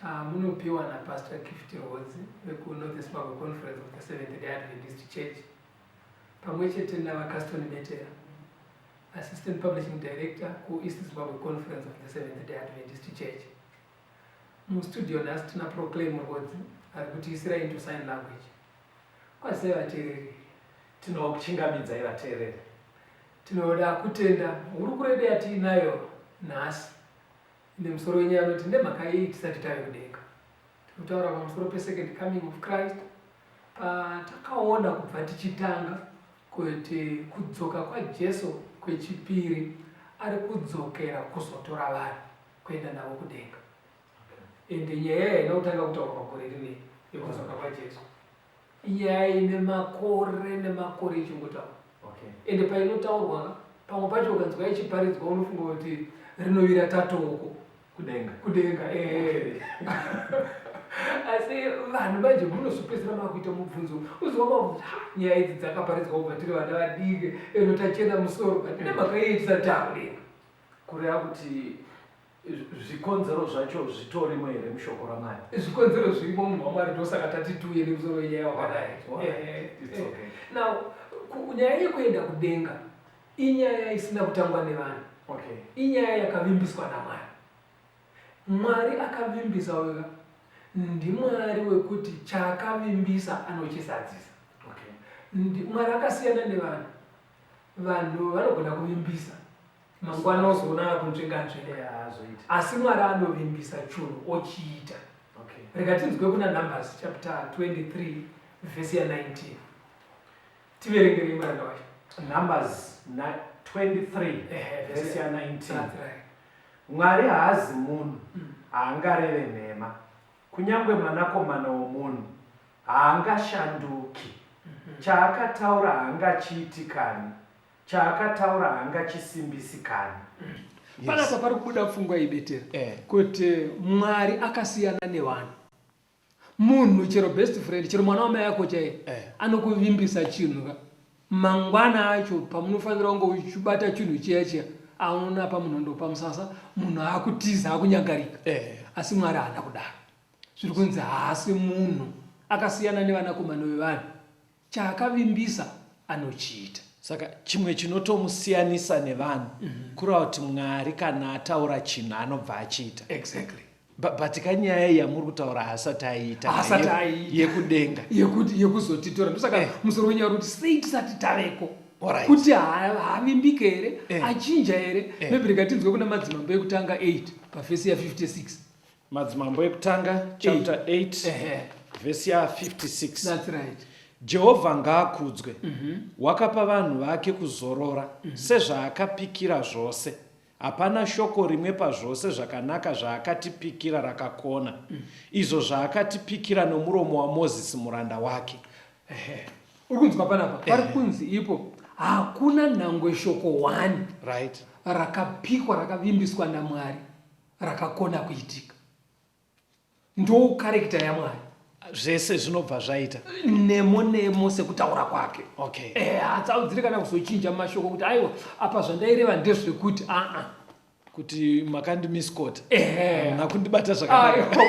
Chamunopiwa na Pastor Gift Rhodzi veku North Zimbabwe Conference of the Seventh Day Adventist Church pamwe chete na VaCaston Betera, Assistant Publishing Director ku East Zimbabwe Conference of the Seventh Day Adventist Church. Mu studio nhasi tina Proclaim Rhodzi ari kutiisira into sign language. Kwazisai vateereri. Tinokuchingamidzai vateereri. Tinoda kutenda hurukuro yedu yatiinayo nhasi Ine musoro wenyaya anoti ndemhaka yei tisati tave kudenga. Tinotawura pamusoro pe second coming of Christ patakawona kubva tichitanga kuti kudzoka kwa Jesu kwechipiri ari kudzokera kuzotora vanhu kuenda navo kudenga. Ende nyaya yaina kutanga kutaurwa gore rinei yekudzoka kwa Jesu. Nyaya ine makore nemakore ichingotaurwa okay. Ende painotaurwa pamwe pacho ukanzwa yachiparidzwa unofunga kuti rinovira tatoko kudenga kudenga eh. asi vanhu manje munozopedzera makuita mubvunzo uziwama nyaya idzi dzakaparidzwa kubva tiri vana vadiki eno tachena musoro but nemakaitisa takudenga kureva kuti zvikonzero zvacho zvitorimo here mushoko ramwari zvikonzero zvirimo munhu wamwari ndosaka tati tiuye nemusoro wenyaya wakadai eh, eh. now nyaya yekuenda kudenga inyaya isina kutangwa nevanhu okay. inyaya yakavimbiswa namwari mwari akavimbisa wega ndimwari wekuti chaakavimbisa anochisadzisa okay. mwari akasiyana nevanhu vanhu vanogona kuvimbisa mangwana ozoona akunzvenganzve asi mwari anovimbisa chunhu ochiita okay. rega tinzwe kuna numbers chapter 23 vhesi ya 19 tiverengerei muranda wacho numbers 23 vhesi ya 19 mwari haazi munhu mm. haangareve nhema kunyange mwanakomana womunhu haangashanduki mm-hmm. chaakataura haangachiitikani Chaakataura hangachisimbisi kani. Panapa pari kubuda pfungwa ibetera eh. kuti Mwari akasiyana nevanhu. Munhu chero best friend, chero mwana wamai yako chaiye eh. anokuvimbisa chinhu ka mangwana acho pamunofanira kunge uchibata chinhu chiya chiya aona pamunhu ndopa musasa munhu akutiza akunyangarika eh. asi Mwari haana kudaro. Zviri kunzi haasi munhu akasiyana nevanakomana vevanhu. chaakavimbisa anochiita. Saka chimwe chinotomusiyanisa nevanhu mm -hmm. kureva kuti Mwari kana ataura chinhu anobva achiita. Exactly. But ka nyaya iyi yamuri kutaura haasati aiita haasati aiita yekudenga yekuti yekuzotitora ndosaka eh. musoro wenyaya uri kuti sei tisati taveko right. kuti haavimbike here eh. achinja here eh. maybe rikatinzwe kuna madzimambo ekutanga 8 pafesi ya 56 madzimambo ekutanga chapter 8 vhesi ya 56 jehovha ngaakudzwe mhm. wakapa vanhu vake kuzorora mhm. sezvaakapikira zvose hapana shoko rimwe pazvose zvakanaka zvaakatipikira rakakona mhm. izvo zvaakatipikira nomuromo wamozisi muranda wake uri kunzwa panapa pari kunzi ipo hakuna nhangwe shoko one rakapikwa rakavimbiswa namwari rakakona kuitika ndoukarekita yamwari zvese zvinobva zvaita nemo nemo sekutaura kwake okay eh hatsaudzire kana kuzochinja mashoko kuti aiwa apa zvandaireva ndezvekuti aa ah, ah. kuti makandi miscot eh nakundibata zvakanaka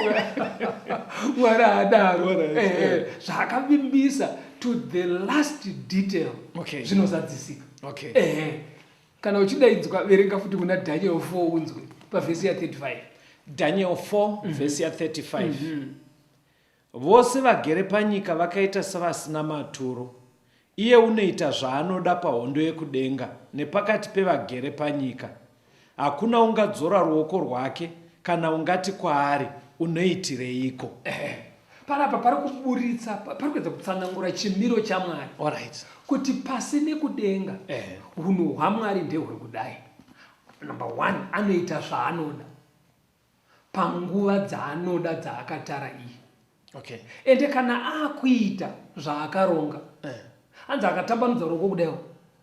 mwari adaro eh zvakavimbisa to the last detail okay zvinozadzisika okay eh Kana uchidaidzwa, verenga futi muna Daniel 4 unzwe pavhesi ya 35. Daniel 4 mm -hmm. vhesi ya 35. Mm -hmm. Vose vagere panyika vakaita savasina maturo. Iye unoita zvaanoda pahondo yekudenga nepakati pevagere panyika. Hakuna ungadzora ruoko rwake kana ungati kwaari unoitireiko. panapa pari kuburitsa pari kuedza kutsanangura chimiro chamwari right. kuti pasi nekudenga eh. hunhu eh. hwamwari ndehuri kudai number one anoita zvaanoda panguva dzaanoda dzaakatara iyi okay. ende kana akuita zvaakaronga eh. hanzi akatambanudza ruoko kudaiwo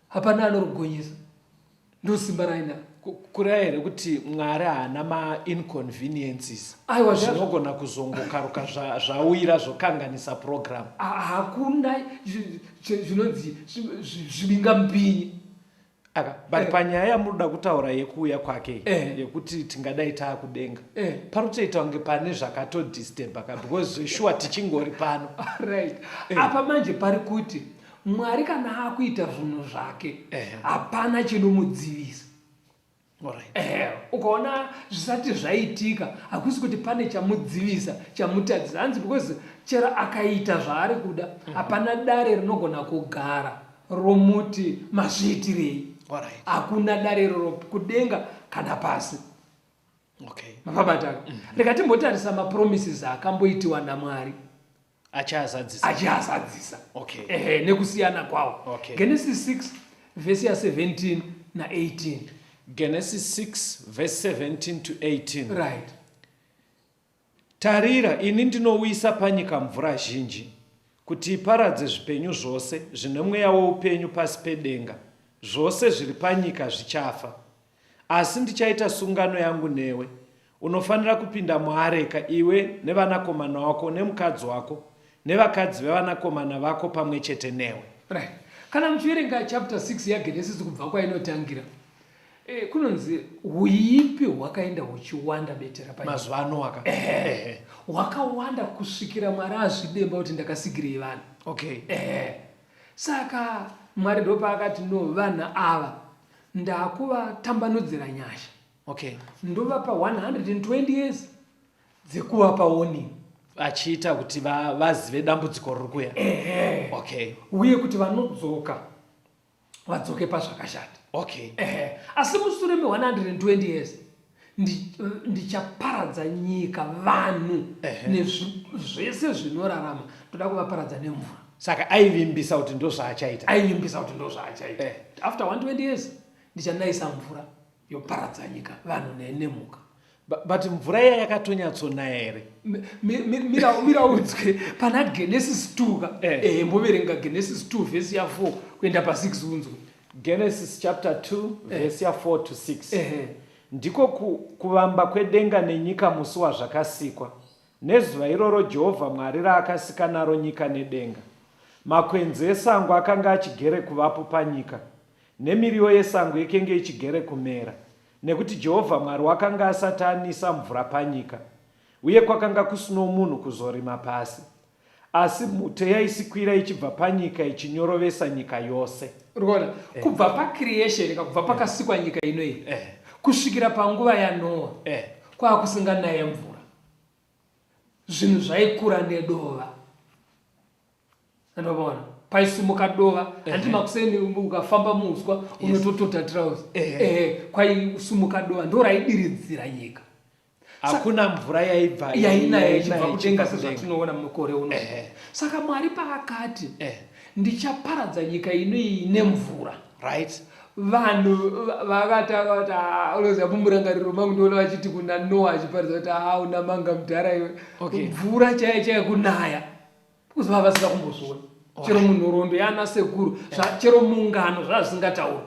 hapana anorugonyesa ndosimba raina kureva here kuti mwari haana mainconveniences aiwa zvinogona kuzongokaruka zvauyira zvokanganisa program hakuna zvinonzi zvibinga mupinyi aka but eh. panyaya yamunoda kutaura yekuuya kwake eh. yekuti tingadai taakudenga eh. panotoita kunge pane zvakatodisturba ka because zveshuwa tichingori pano right apa manje pari kuti Mwari kana akuita zvinhu zvake hapana chinomudzivisa. Eh, ukaona zvisati zvaitika hakusi kuti pane chamudzivisa chamutadzisa hanzi because chero akaita zvaari kuda mhm. hapana dare rinogona kugara romuti mazviitirei hakuna dare iroro kudenga kana pasi okay. mavabataka mm -hmm. rekatimbotarisa mapromises akamboitiwa namwari achiazadzisa achiazadzisa okay. ehe nekusiyana kwawo okay. genesis 6 vhesi ya 17 na 18 genesis 6 vhesi 17 to 18 right tarira ini ndinouyisa panyika mvura zhinji kuti iparadze zvipenyu zvose zvine mweya weupenyu pasi pedenga zvose zviri panyika zvichafa Asi ndichaita sungano yangu newe. Unofanira kupinda muareka, iwe nevanakomana wako nemukadzi wako nevakadzi vevanakomana vako pamwe chete newe. Right. Kana muchiverenga chapter 6 yaGenesis kubva kwainotangira, eh, kunonzi huipi hwakaenda huchiwanda betera pa mazuva anowaka eh, hwakawanda kusvikira Mwari azvidemba kuti ndakasigirei vanhu. Okay. Eh, saka Mwari ndopaakati no vanhu ava Ndakuvatambanudzira nyasha. Okay. Ndovapa 120 years dzekuvapa warning achiita kuti vazive va dambudziko riri kuya ehe okay uye kuti vanodzoka vadzoke pazvakashata okay ehe asi musure me 120 years ndichaparadza nyika vanhu nezvese zvinorarama ndoda kuvaparadza nemvura saka aivimbisa kuti ndozvaachaita aivimbisa kuti ndozvaachaita eh. after 120 years ndichanayisa mvura yoparadza nyika vanhu nenemhuka but mvura iya yakatonyatsonaya here miraudzwe pana genesis 2 ka eh. eh, mboverenga genesis 2 vhesi ya 4 kuenda pa 6 unzwe Genesis chapter 2 eh. verse ya 4 to 6 eh. ndiko ku, kuvamba kwedenga nenyika musi wazvakasikwa nezuva iroro jehovha mwari raakasika naro nyika nedenga makwenzi esango akanga achigere kuvapo panyika nemiriwo yesango ikenge ichigere kumera nekuti jehovha mwari wakanga asati anisa mvura panyika uye kwakanga kusino munhu kuzorima pasi Asi mhute yaisikwira ichibva panyika ichinyorovesa nyika yose. Urikuona? Eh. Kubva pacreation ka kubva pakasikwa nyika ino iyi. Eh. Kusvikira panguva yaNoa. Eh. Kwakusinganaye mvura. Zvinhu zvaikura nedova. Ndinoona. Paisimuka dova. Eh. Handi makuseni ukafamba muuswa yes. unototota trouse. Eh. Eh. Kwaisimuka dova ndoraidiridzira nyika. hakuna mvura yaibva yainaya ichibva kudenga sezvatinoona mukore uno saka mwari paakati eh. ndichaparadza nyika ino iyi nemvura right vanhu vakatanga kuti ah, unoziva mumurangariro mangu ndiona vachiti kuna noa achiparidza kuti haa ah, una manga mudhara iwe mvura chaiyo chaiyo kunaya kuzova vasina kumbozviona chero munhorondo yana sekuru chero mungano zvazvisingatauri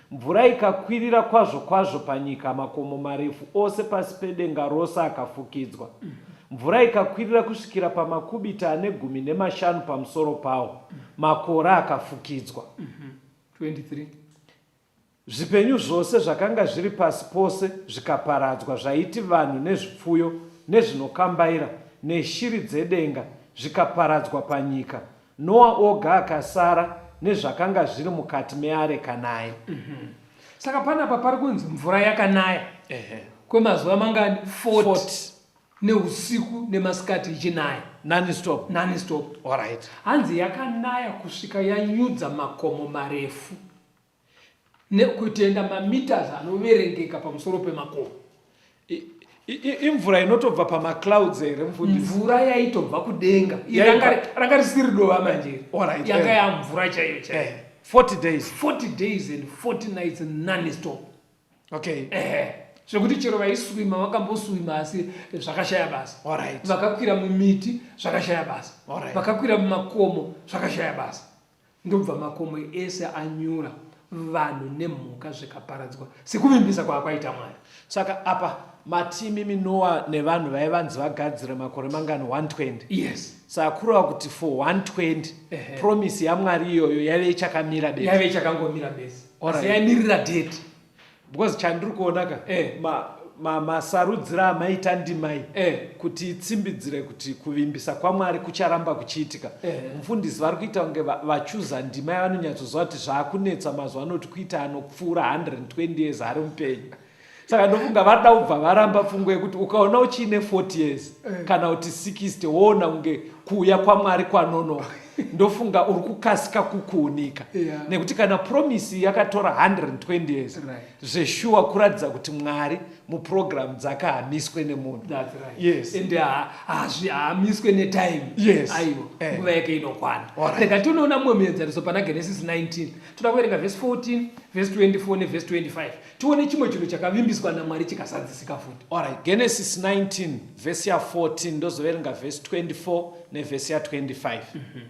Mvura ikakwirira kwazvo kwazvo panyika, makomo marefu ose pasi pedenga rose akafukidzwa. Mvura ikakwirira kusvikira pamakubita ane gumi nemashanu pamusoro pawo, makore akafukidzwa. 23 Zvipenyu zvose zvakanga zviri pasi pose zvikaparadzwa, zvaiti vanhu nezvipfuyo nezvinokambaira neshiri dzedenga, zvikaparadzwa panyika. Noa oga akasara nezvakanga zviri mukati meareka naye. Mm -hmm. Saka panapa pari kunzi mvura yakanaya uh -huh. kwemazuva mangani 40, 40. neusiku nemasikati ichinaya nanistop nanistop. Alright. Hanzi yakanaya kusvika yanyudza makomo marefu. nekutenda mameters anoverengeka pamusoro pemakomo imvura inotobva pamaclouds here mfundisi mvura yaitobva kudenga ranga risiri dova manje yanga yamvura chaiyo chaiyo 40 eh, days 40 days and 40 nights none stop okay eh zvekuti chero vaiswima vakamboswima asi zvakashaya basa vakakwira mumiti zvakashaya basa vakakwira mumakomo zvakashaya basa Ndobva makomo ese anyura, vanhu nemhuka zvikaparadzwa, sekuvimbisa kwaakwaita Mwari. Saka apa mati imimi Noa nevanhu vaive vanzi vagadzire makore mangani 120? Yes. Saka kureva kuti for 120 Ehe. promise yaMwari iyoyo yaive ichakamira bedzi. Yaive ichakangomira bedzi. Alright. Asi yaimirira date. because chandiri kuona ka eh. masarudzira ma, ma amaita ndimai eh. kuti itsimbidzire kuti kuvimbisa kwamwari kucharamba kuchiitika eh. mufundisi vari kuita kunge vachuza ndima yavanonyatsoziva kuti zvaakunetsa mazuva anoti kuita anopfuura 120 years ari mupenyu saka ndofunga vada kubva varamba pfungwa yekuti ukaona uchiine 40 years eh. kana kuti 60 woona kunge kuuya kwamwari kwanonoka ndofunga uri kukasika kukuunika yeah. nekuti kana promisi yakatora 120 years right. zveshuwa kuratidza kuti mwari muprogramu dzake hamiswe nemunhu haamiswe netime aiwa eh. nguva yake inokwana rega tinoona mumwe muenzaniso pana genesis 19 toda kuverenga vhesi 14 vhesi 24 nevhesi 25 tione chimwe chinhu chakavimbiswa namwari chikazadzisika futi orit genesis 19 vhesi ya 14 ndozoverenga vhesi 24 nevhesi ya 25 mm -hmm.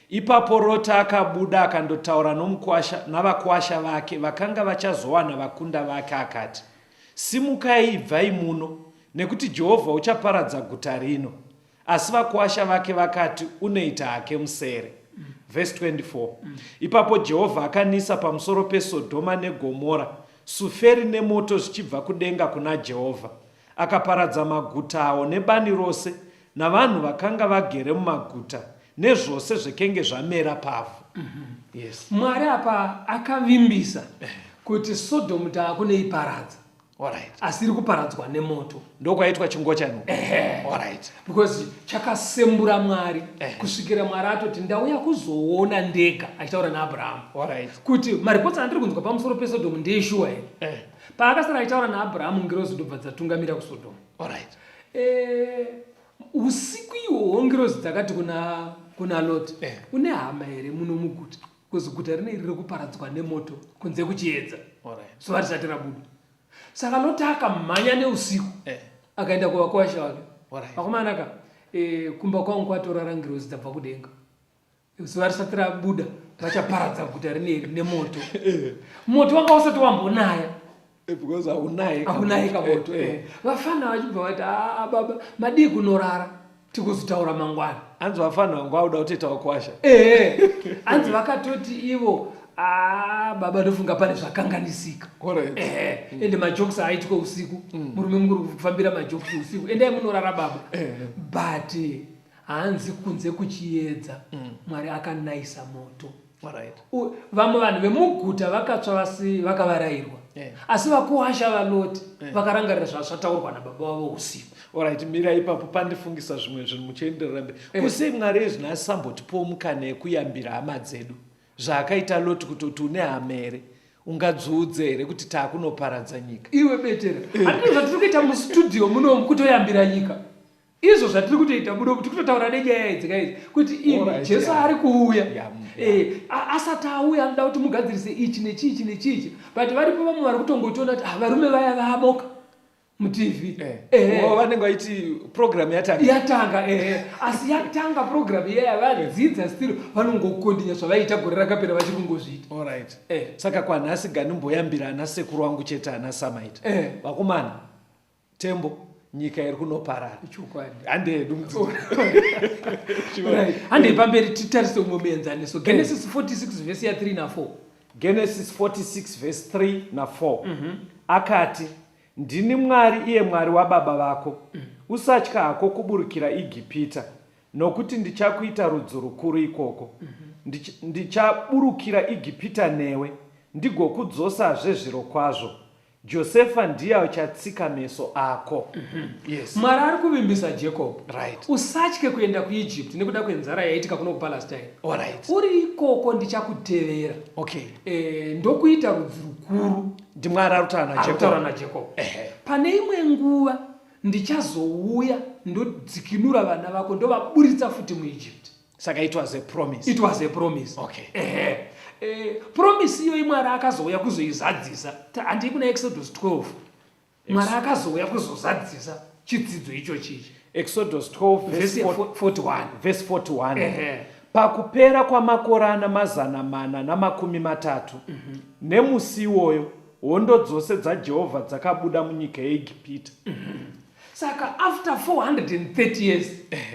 ipapo roti akabuda akandotaura nomukwasha navakwasha vake vakanga vachazowana vakunda vake akati simukai ibvai muno nekuti jehovha uchaparadza guta rino Asi vakuwasha vake vakati, Unoita hake musere. Vhesi 24 Ipapo Jehovha akanisa pamusoro peSodhoma neGomora suferi nemoto zvichibva kudenga kuna Jehovha. Akaparadza maguta awo nebani rose, navanhu vakanga vagere mumaguta, nezvose zvekenge zvamera pavhu. Yes. Mwari apa akavimbisa kuti Sodhomu taakunoiparadza. Alright. asi iri kuparadzwa nemoto ndokwaitwa chingocha no Alright. because chakasembura mwari Ehe. kusvikira mwari atoti ndauya kuzoona ndega achitaura naabrahamu Alright. kuti maripotsi andiri kunzwa pamusoro pesodomu ndeeshuwa here Eh. paakasara achitaura naabrahamu ngirozi ndobva dzatungamira kusodomu Alright. Eh, usiku ihwohwo ngirozi dzakati kuna kuna loti Eh. une hama here muno muguta Kozi guta rine iri rekuparadzwa nemoto kunze kuchiedza zuva risati rabuda saka loti akamhanya neusiku eh. akaenda kuvakwasha vake vakomanaka eh, kumba kwangu kwatorara ngirozi dzabva kudenga zuva risati rabuda vachaparadza guta rine iri nemoto eh. moto wanga usati wambonaya Eh, because haunaye haunaye kamoto eh, eh. vafana vachibva vati aa ah, ah, baba madii kunorara tikuzotaura mangwana hanzi vafana vangu vauda kutoita wakwasha ee hanzi vakatoti ivo aa ah, baba ndofunga pane zvakanganisika ee mm. ende majoks aitwa usiku mm. murume mukuri kufambira majoks usiku endai munorara baba but hanzi kunze kuchiedza mm. mwari akanaisa moto vamwe vanhu vemuguta vakatsva vasi vakavarairwa eh. asi vakuwasha valoti eh. vakarangarira zvazvataurwa nababa vavo usiku orit mira ipapo pandifungisa zvimwe zvinhu muchienderera mbe eh. kusei mwari ezvinasi sambotipowo mukana yekuyambira hama dzedu zvaakaita loti kutoti une hama here ungadziudze here kuti taakunoparadza nyika iwe betera handizvatiri kuita mustudio munomu kutoyambira nyika izvo zvatiri kutoita budo kuti kutotaura nenyaya idzi kaidzi kuti imi jesu ari kuuya eh, asati auya anoda kuti mugadzirise ichi nechiichi nechiichi but varipo vamwe vari kutongotiona kuti ah, varume vaya vaboka mutv eh. eh. oh, vanenge vaiti program yatanga yatanga asi yatanga program iyaya vadzidza stiro vanongokondinya zvavaiita gore rakapera vachiri kungozviita orit saka kwanhasi ganimboyambira ana sekuru wangu chete ana samaita vakomana Tembo nyika iri kunoparara chokwadi handei hedu mutsoro handei pamberi titarise umwe muenzaniso genesis 46 vhesi ya 3 na 4 genesis 46 vhesi 3 na 4 mm -hmm. akati ndini mwari iye mwari wababa vako mm. usatya hako kuburukira igipita nokuti ndichakuita rudzi rukuru ikoko mm -hmm. ndichaburukira igipita newe ndigokudzosazve zviro kwazvo Josefa ndiye achatsika meso ako. Mm -hmm. Yes. Mwari ari kuvimbisa Jacob. Right. Usatye kuenda kuEgypt nekuda kwenzara yaitika kuno kuPalestine. All right. Uri ikoko ndichakutevera. Okay. Eh, ndokuita rudzi rukuru. Ndimwari arutaura naJacob. Arutaura naJacob. Ehe. Pane imwe nguva ndichazouya ndodzikinura vana vako ndovaburitsa futi muEgypt. saka it was a promise it was a promise okay ehe eh, promise iyoyi mwari akazouya kuzoizadzisa handii kuna exodus 12 mwari akazouya kuzozadzisa chidzidzo ichochi ichi exodus 12 verse 41 verse 41 ehe pakupera kwamakore ana mazana mana namakumi matatu mm -hmm. nemusi iwoyo hondo dzose dzajehovha dzakabuda munyika yeegipita mm -hmm. saka after 430 years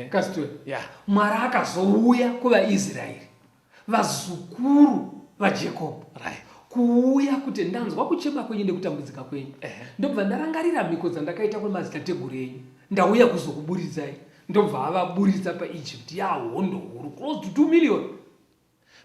kasitwe yeah. mwari akazouya kuvaisraeri vazukuru vajacob right kuuya kuti ndanzwa kuchema kwenyu nekutambudzika kwenyu ndobva ndarangarira mhiko dzandakaita kwemadzitateguru enyu ndauya kuzokuburidzai ndobva avaburitsa paegypt yahondo huru close to 2 million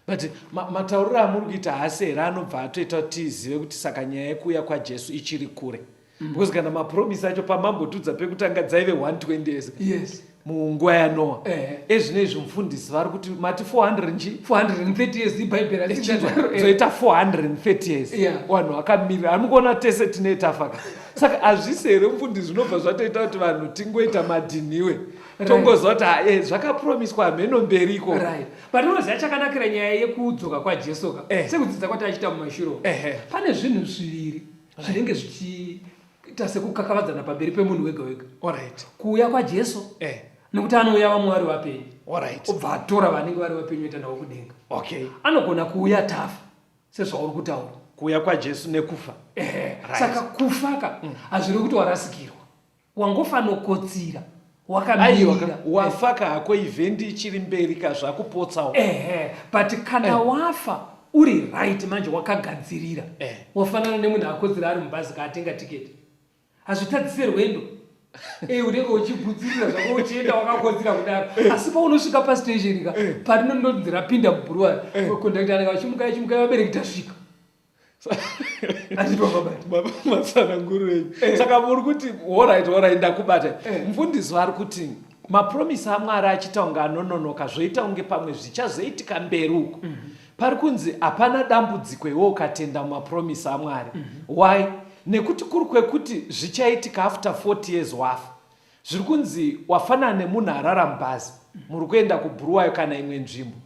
But ma, matauriro amuri kuita haasi here anobva atoita kuti tizive kuti saka nyaya yekuuya kwaJesu ichiri kure. Mm. Because kana mapromise acho pamambotudza pekutanga dzaive 120 years. Yes. munguva yanoa eh. ezvino izvi mufundisi vari kuti mati 400 nji 430 years ibhaibheri achizoita 430 years vanhu vakamirira ari mukuona tese tine tafaka saka hazvisi here mufundisi zvinobva zvatoita kuti vanhu tingoita madhiniwe tongoziva kuti hae zvakapromiswa hameno mberi ikoko Patinoziva chakanakira nyaya yekudzoka kwaJesu ka eh. sekudzidza kwataichita mumashuro eh, eh. pane zvinhu zviviri eh. zvinenge zvichiita sekukakavadzana pamberi pemunhu wega wega right. kuuya kwaJesu eh. nekuti anouya vamwe vari vapenyu right. obva atora vanenge vari vapenyu oita navo kudenga okay. anogona kuuya tafa sezvauri kutaura kuuya kwaJesu nekufa eh. right. saka kufaka mm. hazviri kuti warasikirwa wangofanokotsira aiwa wafa ka hako event ichiri mberi ka zvakupotsawo ehe but kana eh. wafa uri right manje wakagadzirira eh. wafanana nemunhu akodzera ari mubhazi kaatenga tiketi hazvitadzise rwendo e unenge uchigudzirira zvako uchienda wakakodzira kudaro eh. asi paunosvika pastationi ka eh. parinondonzi rapinda mubhuruwari eh. kondakta anenge vachimukai chimukai vabereki tasvika baba matsananguro enyu eh. saka muri kuti orit orit ndakubata eh. mfundisi vari kuti mapromisi amwari achiita kunge anononoka zvoita kunge pamwe zvichazoitika mberi uko mhm. pari kunzi hapana dambudziko iwe ukatenda mumapromisi amwari mhm. why nekuti kuri kwekuti zvichaitika after 40 years wafa zviri kunzi wafanana nemunhu arara mubhazi mhm. muri kuenda kubhuruwayo kana imwe nzvimbo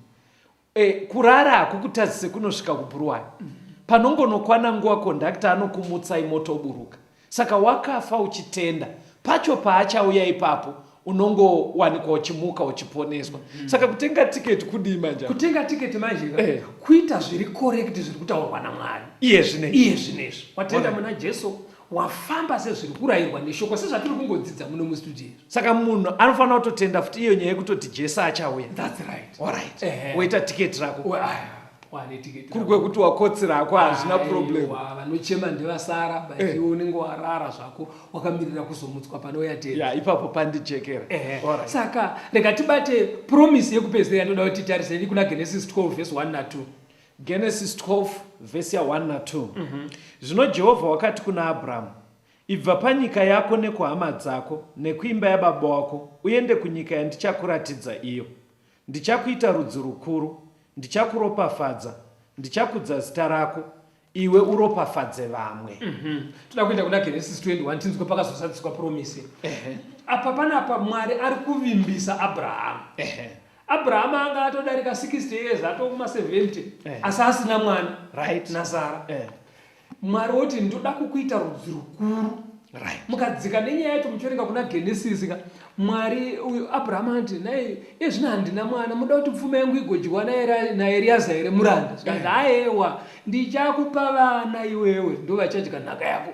E, kurara hakukutadzise kunosvika kubhuruwani mm -hmm. panongonokwana nguva kondakta anokumutsai motoburuka saka wakafa uchitenda pacho paachauya ipapo unongowanikwa uchimuka uchiponeswa mm -hmm. saka kutenga tiketi kudii manje kutenga tiketi manje eh. kuita zviri korekti zviri kutaurwa namwari iye zvinezvi iye zvinezvi watenda muna jesu wafamba sezviri kurayirwa neshoko sezvatiri kungodzidza muno mustudio izvo saka munhu anofanira kutotenda futi iyo nyaya yekutoti jesu achauya thats right allright woita tiketi rako kuri kwekuti wakotsi rako hazvina problem vanochema ndevasara but eh. iwe unenge warara zvako wakamirira kuzomutswa pane uyatera ipapo pandijekera saka rega tibate promise yekupedzera yatoda kuti titarisei kuna genesis 12 vese 1 na 2 Genesis 12 vhesi ya 1 na 2 mm -hmm. Zvino Jehovha wakati kuna Abrahamu, Ibva panyika yako nekuhama dzako nekuimba yababa wako uende kunyika yandichakuratidza iyo. Ndichakuita rudzi rukuru, ndichakuropafadza, ndichakudza zita rako, iwe uropafadze vamwe. Mm -hmm. Toda kuenda kuna Genesis 21 tinzwe pakazosadziswa promisi. Ehe. Apa panapa Mwari ari kuvimbisa Abrahamu. Ehe. Abrahama anga atodarika 60 years atova kuma 70 eh. asi asina mwana right. naSara eh. Mwari woti ndoda kukuita rudzi rukuru right. mukadzika nenyaya yacho muchiverenga kuna Genesis ka Mwari uyu Abrahama anti naye iye zvino handina mwana muda kuti pfuma yangu igodyiwa naEriaza here muranda zvikanzi eh. aewa ndichakupa vana iwewe ndovachadya nhaka yako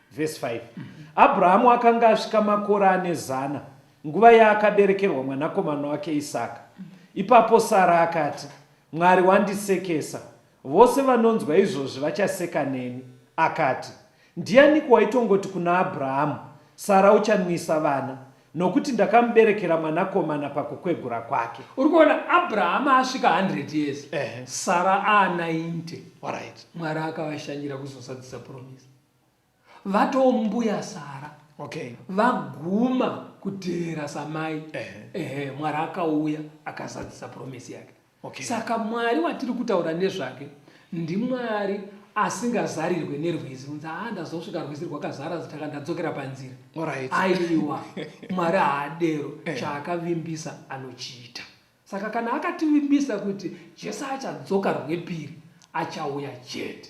Vhesi 5 Abhurahamu akanga asvika makore ane zana nguva yaakaberekerwa mwanakomana wake Isaka. Ipapo Sara akati, Mwari wandisekesa. Vose vanonzwa izvozvi vachaseka neni. Akati, Ndianiko waitongoti kuna Abhurahamu, Sara uchanwisa vana, nokuti ndakamuberekera mwanakomana pakukwegura kwake? Uri kuona, Abhurahamu asvika 100 years, Ehe. Sara aa 90. Alright. Mwari akavashanyira kuzozadzisa puromisi. vatoo mbuya sara okay. vaguma kuteera samai ehe eh. eh, mwari akauya akazadzisa promisi yake okay. saka mwari watiri kutaura nezvake ndimwari asingazarirwe nerwizi unzi haa ah, ndazosvika rwizi rwakazara zitaka ndadzokera panzira right. aiwa mwari haadero eh. chaakavimbisa anochiita saka kana akativimbisa kuti jesu achadzoka rwepiri achauya chete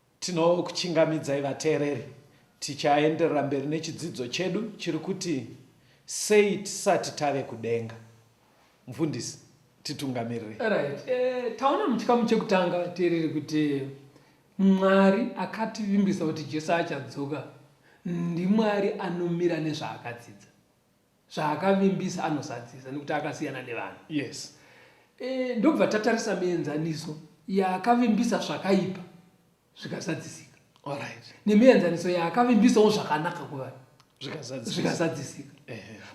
Tinokuchingamidzai vateereri tichaenderera mberi nechidzidzo chedu chiri kuti sei tisati tave kudenga. Mfundisi, titungamirire. Right. E, taona muchikamu chekutanga teereri kuti Mwari akativimbisa kuti Jesu achadzoka ndiMwari anomira nezvaakadzidza. zvaakavimbisa anozadzisa nekuti akasiyana nevanhu yes e, ndobva tatarisa mienzaniso yaakavimbisa zvakaipa zvikazadzisika right. nemienzaniso yaakavimbisawo zvakanaka kuvanhu zvikazadzisika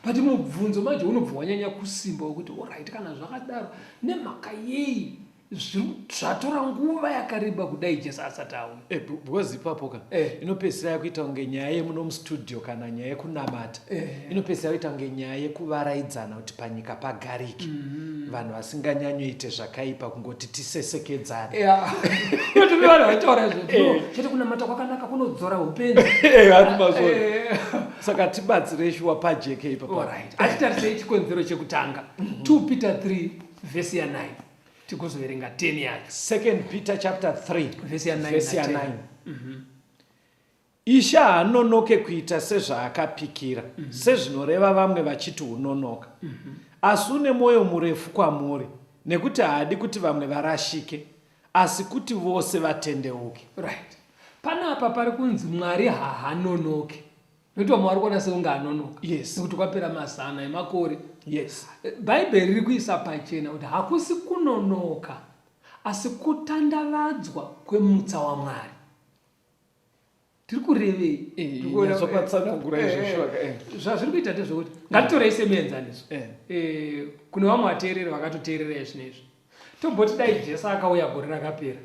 but mubvunzo manje unobva wanyanya kusimba wekuti orit kana zvakadaro nemhaka yei zvatora nguva yakareba kudai jesu asati auya eh, because ipapo ka eh. inopedzisira yakuita kunge nyaya yemuno mustudio kana nyaya yekunamata eh. inopedzisira yakuita kunge nyaya yekuvaraidzana kuti panyika pagariki mm-hmm. vanhu vasinganyanyoite zvakaipa kungoti tisesekedzane vanhu vaitaura izvozvchete kunamata kwakanaka kunodzora upenzi saka tibatsirei shuwa pajeke ipapo achitarisei chikonzero chekutanga 2 mm-hmm. peter 3 vhesi ya 9 tikuzoverenga 10 yacho second peter chapter 3 vhesi ya 9 mhm. ishe haanonoke kuita sezvaakapikira mm -hmm. sezvinoreva vamwe vachiti unonoka mm -hmm. asi une mwoyo murefu kwamuri nekuti haadi kuti vamwe varashike asi kuti vose vatendeuke right panapa pari kunzi mwari hahanonoke nokuti vamwe vari kuona seunge anonoka yes. nekuti kwapera mazana emakore yes. bhaibheri riri kuisa pachena kuti hakusi kunonoka asi kutandavadzwa kwemutsa wamwari tiri kurevei eh, eh, eh, zvazviri kuita ndezvekuti ngatitorei semuenzaniso kune vamwe vateereri vakatoteerera izvi neizvi tomboti dai jesu akauya gore rakapera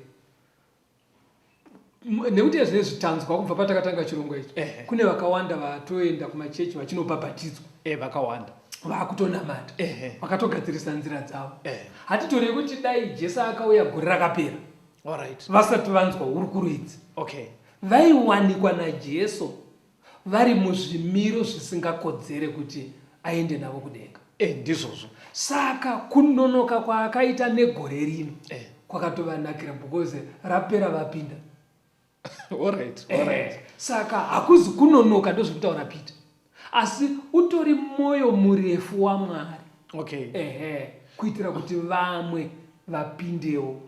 nekuti ezvine zvitanzwa kubva patakatanga chirongwa ichi kune vakawanda vatoenda kumachechi vachinobhabhatidzwa eh, vakawanda vakutonamata vakatogadzirisa nzira dzavo hatitorei kuti dai jesu akauya gore rakapera vasati vanzwa hurukuru idzi vaiwanikwa najesu vari muzvimiro zvisingakodzere kuti aende navo kudenga. Eh, ndizvozvo. Saka kunonoka kwaakaita negore rino Eh. kwakatovanakira because rapera vapinda. Alright, Eh, alright. saka hakuzi kunonoka ndozvekutaura Peter. Asi utori mwoyo murefu waMwari. okay ehe kuitira kuti vamwe vapindewo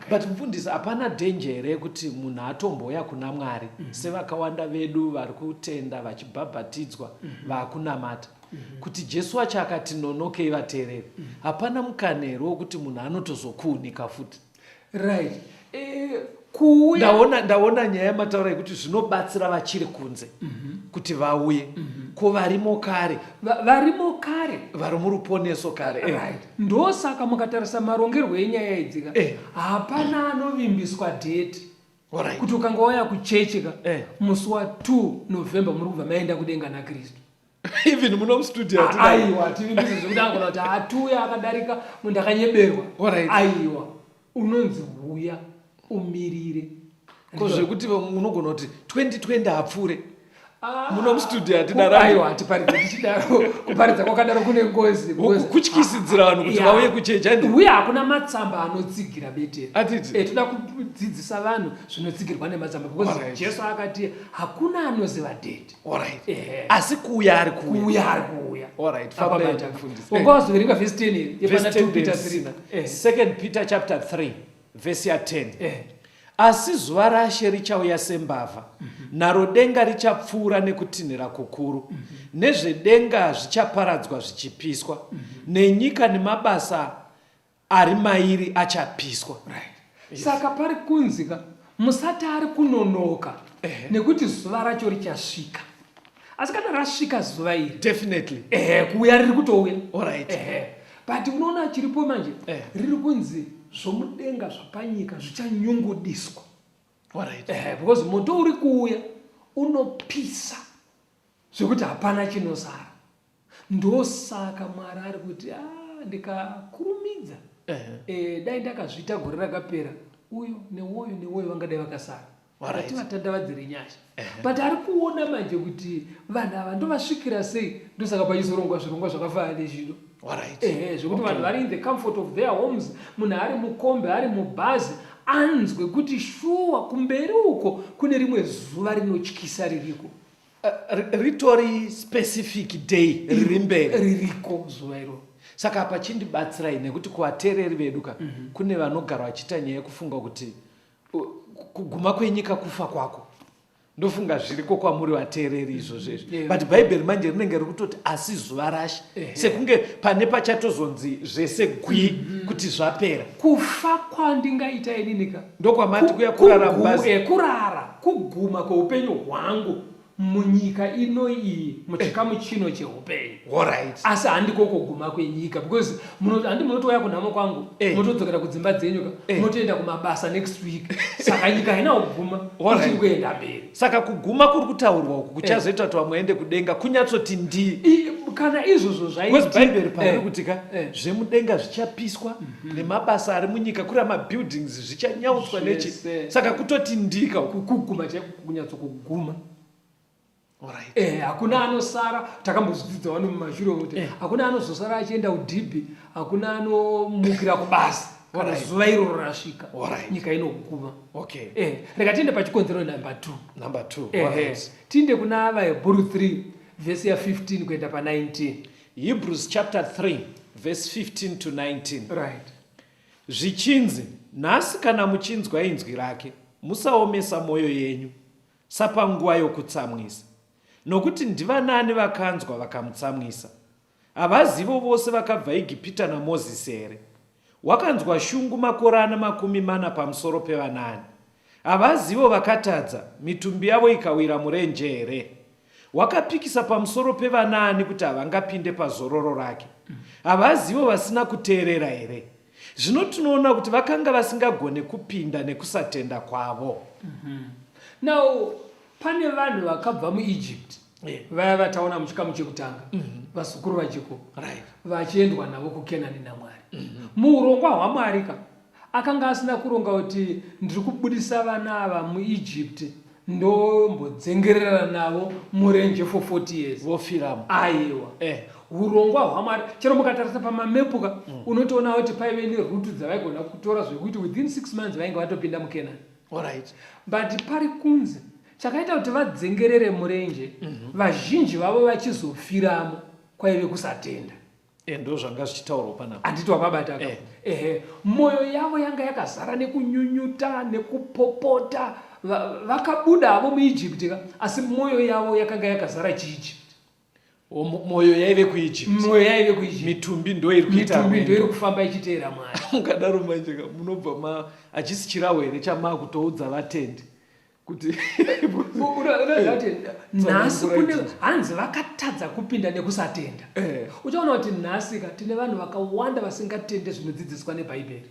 but mfundisi hapana danger here yekuti munhu atomboya kuna mwari mm -hmm. sevakawanda vedu vari kutenda vachibhabhatidzwa mm -hmm. vakunamata mm -hmm. kuti jesu wacho akati nonokei vateereri mm -hmm. hapana mukana here wekuti munhu anotozokuunika futi right eh, kuuya ndaona ndaona nyaya yamataura yekuti zvinobatsira vachiri kunze mm -hmm. kuti vauye mm -hmm. ko varimo kare varimo kare vari muruponeso kare eh. right ndosaka mukatarisa marongerwo enyaya idzika eh. hapana anovimbiswa date right. kuti ukanga waya kuchechi ka eh. musi wa 2 november muri kubva maenda kudenga nakristu even muno mustudio ah, hatina aiwa tiri ndizvo zvekuti angona kuti hatuya akadarika munhu akanyeberwa Alright. aiwa unonzi huya umirire ko zvekuti munogona kuti 2020 hapfuure Ah, muno mustudio hatina kupa- radio. aiwa hatiparidze tichidaro kuparidza kwakadaro kune ngozi Ku- kutyisidzira vanhu kuti Yeah. vauye kuchechi aidi uye hakuna matsamba anotsigira beteri Atiti. Eh, toda kudzidzisa vanhu zvinotsigirwa nematsamba because Alright. jesu akati hakuna anoziva date Alright. Eh. Asi kuuya ari kuuya. Kuuya ari kuuya. Alright. Fambei mufundisi. Ungawazoverenga verse 10 iri yepana 2 Peter 3. Eh. Second Peter chapter 3 verse ya 10. Eh. Asi zuva raShe richauya sembavha, mm -hmm. naro denga richapfuura nekutinhira kukuru, mm -hmm. nezvedenga zvichaparadzwa zvichipiswa, mm -hmm. nenyika nemabasa ari mairi achapiswa right. yes. saka pari kunzika musati ari kunonoka eh. nekuti zuva racho richasvika asi kana rasvika zuva iri definitely eh, kuuya riri kutouya alright eh. but unoona chiripo manje eh. riri kunzi zvomudenga zvapanyika zvichanyungudiswa alright eh, because moto uri kuuya unopisa zvekuti hapana chinosara Ndosaka Mwari ari kuti ah, ndikakurumidza Ehe. eh, dai ndakazviita gore rakapera uyo newoyo newoyo vangadai vakasara Alright. vati vatandavadzire nyasha but ari kuona manje kuti vanhu ava ndovasvikira sei ndosaka pachizorongwa zvirongwa zvakafanana nezvino Alright. ehe zvekuti vanhu vari in the comfort of their homes munhu ari mukombe ari mubhazi anzwe kuti shuwa kumberi uko kune rimwe zuva rinotyisa ririko ritori specific day riri mberi ririko zuva iroro saka apa chindibatsirai nekuti kuvateereri vedu ka mm -hmm. kune vanogara vachiita nyaya yekufunga kuti kuguma kwenyika kufa kwako ndofunga zviriko kwamuri vateereri izvozvo izvo yeah. but bhaibheri manje rinenge rikutoti asi zuva rashe yeah. sekunge pane pachatozonzi zvese gwi mm -hmm. kuti zvapera kufa kwandingaita ininika ndokwamati kuya kurara mbazi kurara Kuguma kweupenyu hwangu munyika ino iyi muchikamu eh. chino cheupenyu right. asi handiko kuguma kwenyika because handi munotouya kunhamo kwangu eh. motodzokera kudzimba dzenyu ka eh. motoenda kumabasa next week saka nyika haina kuguma ichiri kuenda mberi saka kuguma kuri kutaurwa uku kuchazoita kuti vamwe vaende kudenga kunyatsoti ndi kana izvozvo zvaibhaibheri paari kuti ka zvemudenga zvichapiswa mhm. nemabasa ari munyika kuri amabuildings zvichanyautswa nechi saka kutoti ndika kuguma chaiko kunyatso kuguma Right. Eh, hakuna anosara takambozvidzidza wani mumashure kuti eh. hakuna anozosara achienda kudhibhi hakuna anomukira kubasa kana zuva iroro rasvika right. nyika inoguma okay. eh, reka tiende pachikonzero number two, number two. Eh, right. Eh, tiende kuna vahebhuru 3 vhesi ya 15 kuenda pa 19 hebrews chapter 3 verse 15 to 19 right Zvichinzi, Nhasi kana muchinzwa inzwi rake, musaomesa mwoyo yenyu, sapanguva yokutsamwisa. Nokuti ndivanani vakanzwa vakamutsamwisa? Havazivo vose vakabva Egipita naMozisi here? Wakanzwa shungu makorana makumi mana pamusoro pevanani? Havazivo vakatadza, mitumbi yavo ikawira murenje here? Wakapikisa pamusoro pevanaani kuti havangapinde pazororo rake? Havazivo vasina kuteerera here? Zvino tinoona kuti vakanga vasingagone kupinda nekusatenda kwavo. Mhm. Now, pane vanhu vakabva muEgypt vaya vataona muchikamu chekutanga mhm. vazukuru vajekobho vachiendwa navo kukenani namwari mhm. muurongwa hwamwari ka Akanga asina kuronga kuti ndiri kubudisa vana ava muEgypt ndombodzengerera navo murenje for 40 years. Vofiramo. Aiwa. Eh. Hurongwa hwaMwari chero mukatarisa pamamepu ka mm. unotoona kuti paive nerutu dzavaigona kutora zvekuti within 6 months vainge vatopinda muKenani. Alright. But pari kunzi chakaita kuti vadzengerere murenje mm -hmm. vazhinji vavo vachizofiramo kwaive kusatenda. Eh, ndo zvanga zvichitaurwa panapa handiti wapabata eh. ehe mwoyo yavo yanga yakazara nekunyunyuta nekupopota vakabuda avo muijipti ka asi mwoyo yavo yakanga yakazara chiijipti mwoyo yaive kuijiptmwoyo yaive kuijipti mitumbi ndoiri kuitamitumbi ndoiri kufamba ichiteera mwari mukadaro manje ka munobva ma hachisi chirawo here chamakutoudza vatendi kuti nhasi kune hanzi vakatadza kupinda nekusatenda eh. uchaona kuti nhasi ka tine vanhu vakawanda vasingatende zvinodzidziswa nebhaibheri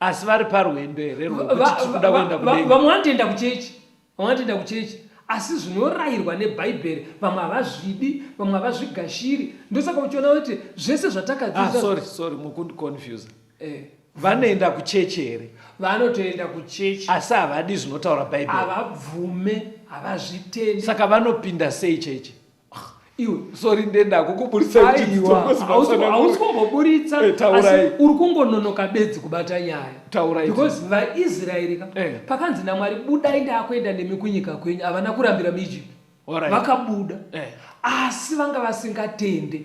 asi vari parwendo here vamwe vanotoenda kuchechi vamwe vanotoenda kuchechi asi zvinorayirwa nebhaibheri vamwe havazvidi vamwe havazvigashiri ndosaka uchiona kuti zvese zvatakadziasorry ah, mukundiconfuse eh. Vanoenda kuchechi here? Vanotoenda kuchechi. Asi havadi zvinotaura Bhaibheri. Havabvume, havazvitende. Saka vanopinda sei chechi? Ah, iwe sorry ndenda kukuburitsa hausi kumboburitsa eh, asi uri kungononoka bedzi kubata nyaya taurai because vaisraeri ka eh. pakanzi namwari budai ndaakuenda nemi kunyika kwenyu havana kurambira muegypt vakabuda eh. asi vanga vasingatende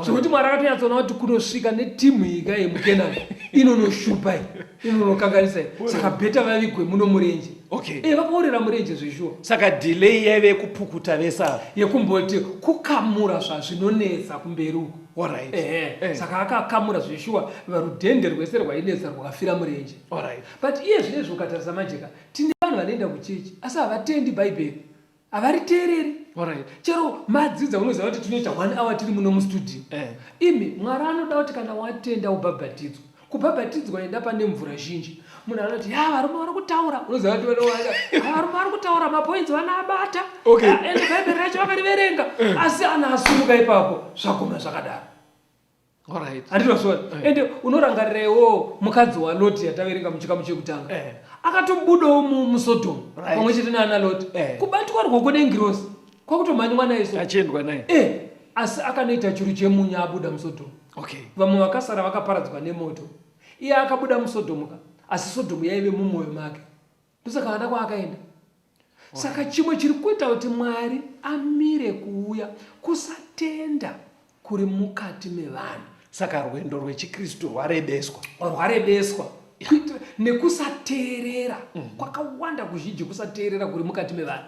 zvekuti mwari akatonyatsona kuti kunosvika netimu yika yemukenani inonoshupa i inonokanganisa saka bheta vavigwe muno murenje okay. e vakaorera murenje zveshuwa saka delay yaive yekupukuta vesa yekumboti kukamura zvazvinonetsa kumberi uko Alright. Eh, eh. saka akakamura zveshuwa varudhende rwese rwainetsa rwakafira murenje Alright. but iye zvinezvi ukatarisa majeka tine vanhu vanoenda kuchechi asi havatendi bhaibheri havariteereri Alright. chero madzidza unoziva kuti tinoita one hour tiri muno mustudio Eh. imi mwari anoda kuti kana watenda ubhabhatidzwa kubhabhatidzwa enda pane mvura zhinji munhu anoti ya varume vari kutaura unoziva kuti vanowaza "Ah, varume vari kutaura mapoints vanaabata Okay. Ah, ende bhaibheri racho vakariverenga asi ana asumuka ipapo zvaguma zvakadaro andinozvona eh. ende unorangarirewo mukadzi waloti yataverenga muchikamu chekutanga eh. akatobudawo musodomu pamwe chete naana loti eh. kubatwa rwoko nengirosi kwakutomhanywa naye so achiendwa naye asi akanoita churu chemunyu abuda musodomu vamwe vakasara vakaparadzwa nemoto iye akabuda musodomu ka asi sodomu yaive mumwoyo make ndosaka vana kwaakaenda saka chimwe chiri kuita kuti mwari amire kuuya kusatenda kuri mukati mevanhu saka rwendo rwechikristu rwarebeswa rwarebeswa nekusateerera mhm. kwakawanda kuzhinji kusateerera kuri mukati mevanhu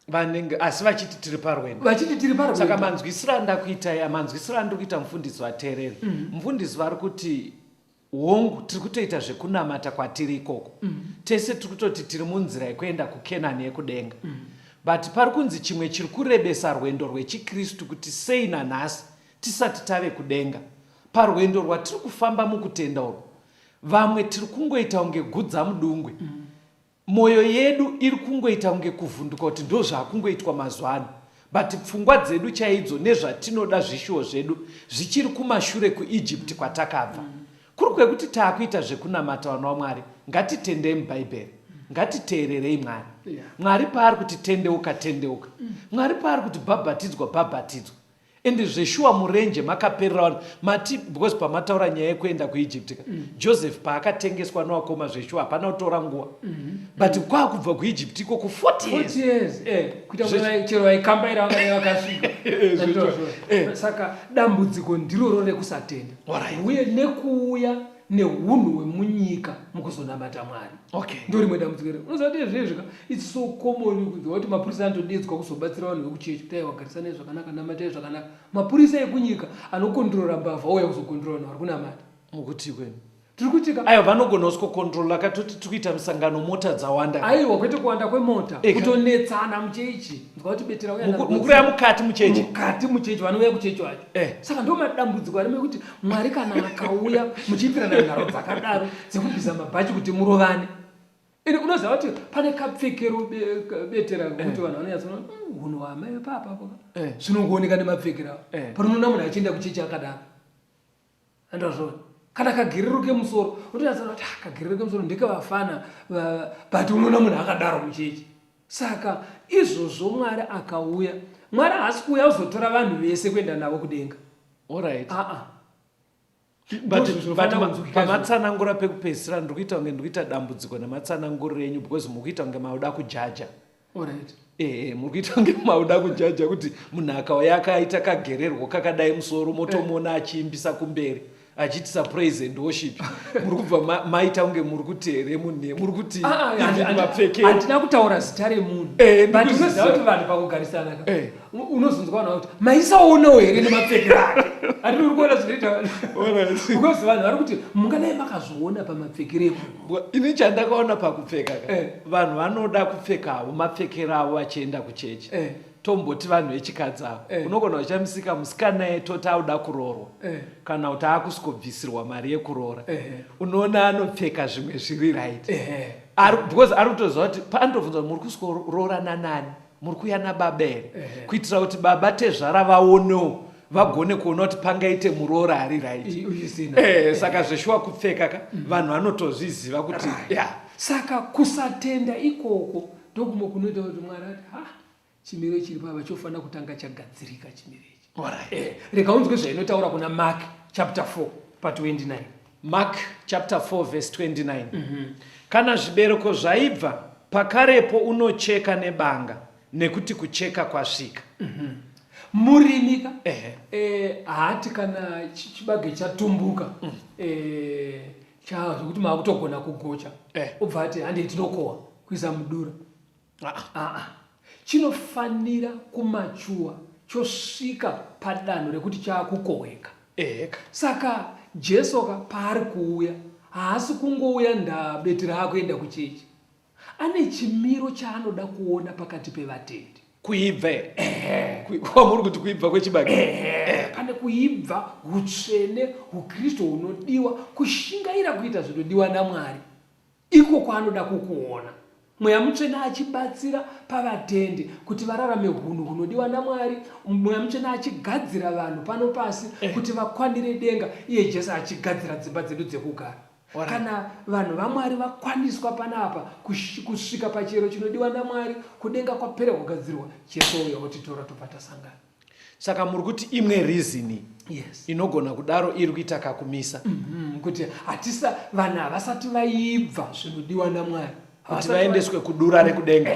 vanenge asi vachiti tiri parwendo vachiti tiri parwendo saka manzwisiro andakuita ya manzwisiro andikuita mufundisi vateereri mhm. mufundisi vari kuti Hongu, tiri kutoita zvekunamata kwatiri ikoko. Mm. Tese tiri kutoti tiri munzira yekuenda kuKenani yekudenga. Mm. But pari kunzi chimwe chiri kurebesa rwendo rwechiKristu kuti sei nanhasi tisati tave kudenga. Parwendo rwatiri kufamba mukutenda urwu, vamwe tiri kungoita kunge gudzamudungwe. Mm. Moyo yedu iri kungoita kunge kuvhunduka kuti ndozvakungoitwa mazuva ano but pfungwa dzedu chaidzo nezvatinoda zvishuwo zvedu zvichiri kumashure kuEgypt kwatakabva mm. kuri kwekuti taakuita zvekunamata vana wamwari ngatitendei mubhaibheri ngatiteererei mwari mwari paari kuti tendeuka tendeuka mm. mwari paari kuti bhabhatidzwa bhabhatidzwa And zveshuwa murenje makaperera vanhu mati because pamataura nyaya yekuenda kuEgypt ka mm. Joseph paakatengeswa nowakoma zveshuwa hapana kutora nguva mm -hmm. but mm. kwakubva kuEgypt iko ku 40 years, years. Eh, kuita chero vaikambaira vangave vakasvika eh, saka dambudziko ndiroro rekusatenda uye nekuuya nehunhu hwemunyika mukuzonamata mwari okay. ndo rimwe dambudziko rero unoziva kuti zvezvika its so common kunzwa kuti mapurisa anotodedzwa kuzobatsira vanhu vekuchechi kutai wagarisanai zvakanaka namatai zvakanaka mapurisa ekunyika anokondrora mbavha ouya kuzokondrora vanhu vari kunamata mukuti kwenu tiri kuitika aiwa vanogona usikokontrola katoti tiri kuita musangano mota dzawanda aiwa kwete kuwanda kwemota kutonetsana muchechi nzwa kuti betera uya mukuru yamukati muchechi mukati muchechi vanouya kuchechi wacho eh. saka ndo madambudziko arimekuti Mwari kana akauya muchiitirana nharo dzakadaro dzekubvisa mabhachi kuti murovane. Ini unoziva kuti pane kapfekero betera kuti eh. vanhu vanonyatsa hmm, hunhu hwamai papa eh. zvinongooneka nemapfekero avo. Eh. Panonoona munhu achienda kuchechi akadaro. Andazvona. Kana kagiriro kemusoro, unotonatsa kuti ah, kagiriro kemusoro ndekavafana but unoona munhu akadaro muchechi. Saka izvozvo Mwari akauya. Mwari haasi kuuya kuzotora vanhu vese kuenda navo kudenga. Alright. Ah ah. pamatsanangura pekupedzisira ndiri kuita kunge ndiri kuita dambudziko nematsananguriro enyu because muri kuita kunge mauda kujaja Alright. Eh, muri kuita kunge mauda kujaja kuti munhu akauya akaita kagererwo kakadai musoro motomuona achiimbisa kumberi. achiitisa praise and worship muri kubva maita kunge muri kuti here munhu muri kuti ah, ah, mapfeke handina kutaura zita remunhu eh, but unoziva kuti vanhu pakugarisana ka eh. unozonzwa vanhu vakuti maisaonawo here nemapfeke ake ati uri kuona zvinoita ukozi vanhu vari kuti mungadai makazviona pamapfekere emunhu ini chandakaona pakupfeka ka eh. vanhu vanoda kupfeka havo mapfekero avo vachienda kuchechi tomboti vanhu vechikadzi ava eh. unogona uchamisika musikana yetoti auda kuroorwa eh. kana kuti akusvikobvisirwa mari yekuroora eh. unoona anopfeka zvimwe zviri right eh. Ar, because ari kutoziva kuti paanotobvunza kuti muri kusikoroora nanani muri kuya nababa here eh. kuitira kuti baba tezvara vaonewo vagone kuona kuti pangaite muroora ari right eh, saka zveshuwa kupfeka ka mm. vanhu vanotozviziva kuti ya saka kusatenda ikoko ndokumo kunoita kuti mwari ati ha chimiro chiri pava chofanira kutanga chagadzirika chimiro ichi eh, rega unzwe zvainotaura kuna mark chapter 4 pa 29 mark chapter 4 verse 29 mm -hmm. kana zvibereko zvaibva pakarepo unocheka nebanga nekuti kucheka kwasvika mm -hmm. murimika eh, haati kana chibage chatumbuka mm. eh, chaa zvekuti maakutogona kugocha eh. obva ati hande tinokohwa kuisa mudura ah. ah, ah, ah. chinofanira kumachuwa chosvika padanho rekuti chaakukohweka eh. saka jesu ka paari kuuya haasi kungouya ndabetera akuenda kuchechi Ane chimiro chaanoda kuona pakati pevatendi. Kuibva here? Ehe. Kwamuri kuti kuibva kwechibage? Ehe. Pane kuibva, utsvene, uKristu hunodiwa, kushingaira kuita zvinodiwa naMwari. Iko kwaanoda kukuona. Mweya mutsvene achibatsira pavatendi kuti vararame hunhu hunodiwa naMwari, Mweya mutsvene achigadzira vanhu pano pasi kuti vakwanire denga, iye Jesu achigadzira dzimba dzedu dzekugara. kana vanhu vamwari vakwaniswa panapa kusvika pachero chinodiwa namwari kudenga kwapera kugadzirwa cheso uya otitora tobva tasangana saka muri kuti imwe reasoni yes. inogona kudaro iri kuita kakumisa mm -hmm. kuti hatisa vanhu havasati vaibva zvinodiwa namwari kuti vaendeswe kudura rekudenga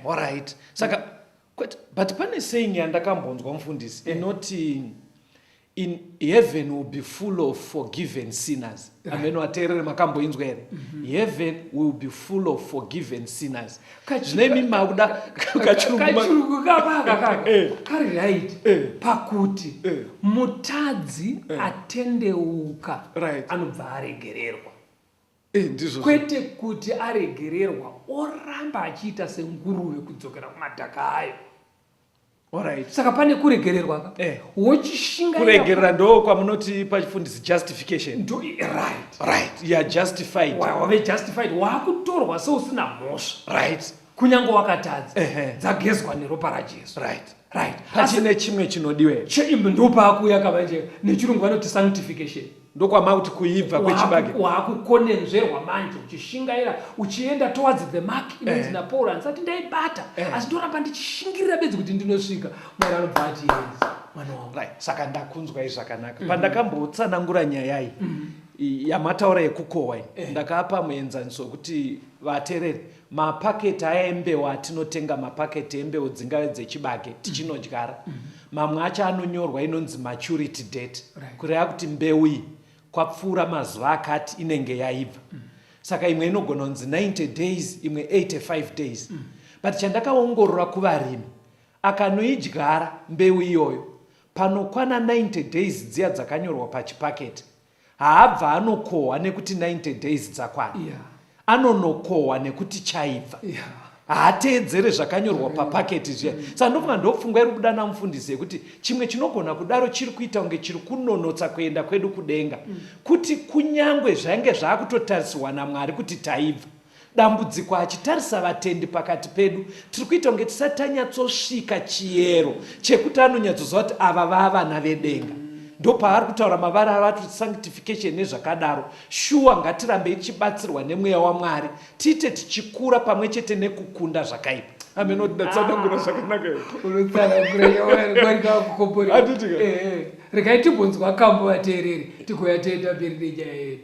orit saka mm -hmm. Kwete, but pane saying yandakambonzwa mufundisi eh. inoti in heaven will be full of forgiven sinners eh. amene wateerere makamboinzwa here mhm. heaven will be full of forgiven sinners zvinemi makuda kachirungu kabaka eh. kari right pakuti mutadzi atendeuka anobva aregererwa Eh, ndizvo kwete kuti aregererwa oramba achiita senguruve kudzokera kumadhaka ayo Alright. saka pane kuregererwa ka Eh. wochishingaira kuregerera ndo kwamunoti pachifundisi justification ndo right right you are justified Wa- wave justified wakutorwa seusina mhosva right kunyange wakatadza dzagezwa neropa rajesu right right pachine chimwe chinodiwe ndopaakuuya kamanje nechirungu vanoti sanctification ndokwamakuti kuibva kwechibage waakukonenzverwa manje uchishingaira uchienda towards the mark inonzi eh. napaul andisati ndaibata eh. asi ndoramba ndichishingirira bedzi kuti ndinosvika mwari anobva ati mwana wangu right saka ndakunzwa izvi zvakanaka mm-hmm. pandakambotsanangura nyaya iyi mm-hmm. yamataura yekukohwa iyi eh. ndakapa muenzaniso wekuti vatereri Mapaketi aya embeu atinotenga mapaketi embeu dzingave dzechibage tichinodyara mm -hmm. mamwe acho anonyorwa inonzi maturity date right. kureva kuti mbeu iyi kwapfuura mazuva akati inenge yaibva mm -hmm. saka imwe inogona kunzi 90 days imwe 85 days mm -hmm. but chandakaongorora kuvarimi akanoidyara mbeu iyoyo panokwana 90 days dziya dzakanyorwa pachipaketi haabva anokohwa nekuti 90 days dzakwana yeah. anonokohwa nekuti chaibva yeah. haateedzere zvakanyorwa mm. papaketi zviya mm. saka ndofunga ndopfungwa iri kuda namufundisi yekuti chimwe chinogona kudaro chiri kuita kunge chiri kunonotsa kuenda kwedu kudenga mm. kuti kunyange zvainge zvaakutotarisirwa namwari kuti taibva Dambudziko achitarisa vatendi pakati pedu tiri kuita kunge tisati tanyatsosvika chiyero chekuti anonyatsoziva kuti ava vavana vedenga ndopaaari kutaura mavara avati sanctification nezvakadaro shuwa ngatirambei tichibatsirwa nemweya wamwari tiite tichikura pamwe chete nekukunda zvakaipa amenotsanangura ah. zvakanaka regai tibonzwa kambo vateereri tigoya toenda mberi nenyaya yedu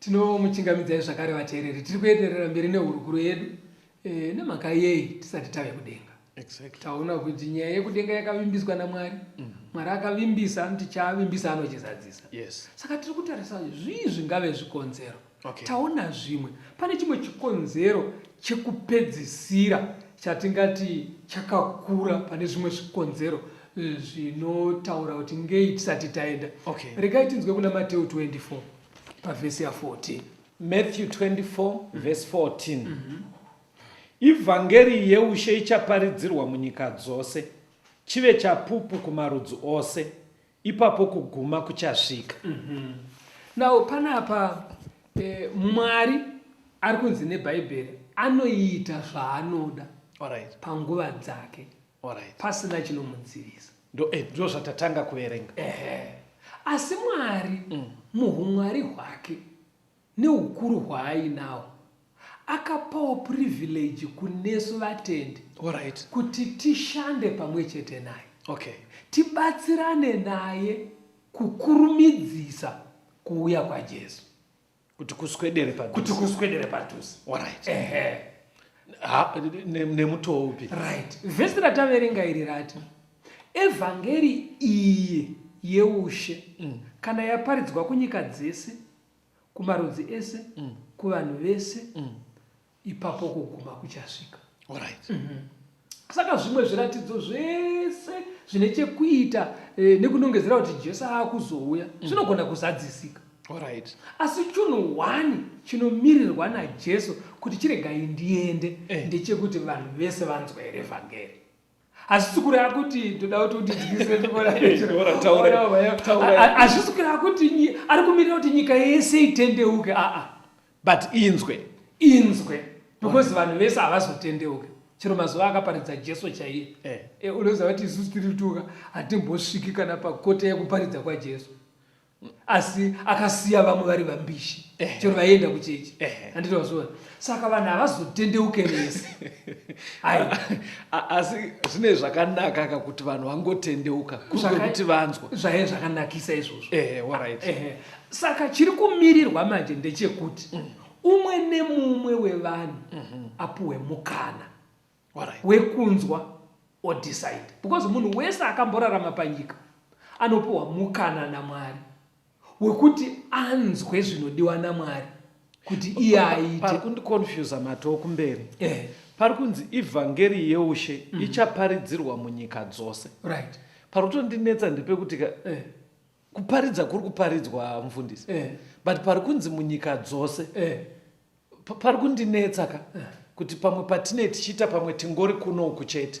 Tinomuchingamidzai zvakare vateereri, tiri kuenderera mberi nehurukuro yedu e, nemhaka yei tisati tave kudenga. Exactly. Taona kuti nyaya yekudenga yakavimbiswa naMwari. Mm -hmm. Mwari akavimbisa anoti chaavimbisa anochizadzisa. Yes. Saka tiri kutarisa zvii zvingave zvikonzero. Okay. Taona zvimwe. Pane chimwe chikonzero chekupedzisira chatingati chakakura pane zvimwe zvikonzero eh, zvinotaura kuti ngei tisati taenda. Okay. Regai tinzwe kuna Mateo 24. pavhesi ya 14 matthew 24 mm. vhesi 14 mm -hmm. ivhangeri yeushe ichaparidzirwa munyika dzose chive chapupu kumarudzi ose ipapo kuguma kuchasvika mm -hmm. now panapa eh, mwari ari kunzi nebhaibheri anoita zvaanoda right. panguva dzake Alright. pasina chinomudzivisa Ndo- eh, ndo zvatatanga kuverenga Ehe. asi mwari muhumwari hwake neukuru hwaainawo akapawo privilege kunesu vatendi Alright. kuti tishande pamwe chete naye okay tibatsirane naye kukurumidzisa kuuya kwajesu kuti kuswedere padhuze kuti kuswedere padhuze alright ehe nemutoo upi right vhesi rataverenga iri rati evhangeri iyi yeushe mm. kana yaparidzwa kunyika dzese kumarudzi ese mm. kuvanhu vese mm. ipapo kuguma kuchasvika Alright. Mm -hmm. Saka zvimwe zviratidzo zvese zvine chekuita eh, nekunongedzera kuti Jesu akuzouya mm. zvinogona mm -hmm. kuzadzisika. Alright. Asi chunhu one chinomirirwa naJesu kuti chiregai ndiende eh. ndechekuti vanhu vese vanzwa here vhangeri. hazvisi kureva kuti ndoda kuti undidyisehazvisi kureva kuti ari kumirira kuti nyika yese itendeuke aa but inzwe inzwe because vanhu vese havazotendeuke chero mazuva akaparidza jesu chaiye eh. eh, unoziva kuti isusu tiri tuka hatimbosviki kana pakota yekuparidza kwajesu asi akasiya vamwe vari vambishi chero vaienda kuchechi handiti wazviona saka vanhu havazotendeuke vese asi zvine zvakanaka ka kuti vanhu vangotendeuka kuti vanzwa zvaive zvakanakisa izvozvo saka chiri kumirirwa manje ndechekuti mm. umwe nemumwe wevanhu mhm. apuhwe mukana wekunzwa or decide because munhu wese akamborarama panyika anopiwa mukana namwari wekuti anzwe zvinodiwa namwari kuti iye aite kundiconfusa matoo kumberi eh. pari kunzi ivhangeri yeushe mm. ichaparidzirwa munyika dzose right. pari kutondinetsa ndiri pekuti eh. kuparidza kuri kuparidzwa mfundisi eh. but pari kunzi munyika dzose eh. pari kundinetsa ka kuti pamwe patinei tichiita pamwe tingori kuno uku chete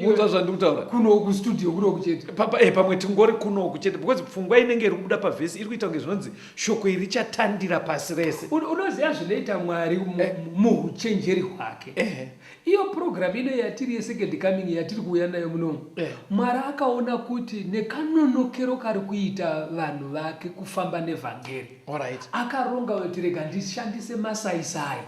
muta zvandiri kutaura kuno uku studio kuno uku chete eh, pamwe tingori kuno uku chete because pfungwa inenge iri kubuda pavhesi iri kuita kunge zvinonzi shoko iri chatandira pasi rese unoziva zvinoita mwari eh. muuchenjeri hwake eh. iyo program ino yatiri yesecond coming yatiri kuuya nayo munomu mwari akaona kuti nekanonokero kari kuita vanhu vake kufamba nevhangeri Alright. akaronga kuti rega ndishandise masaisai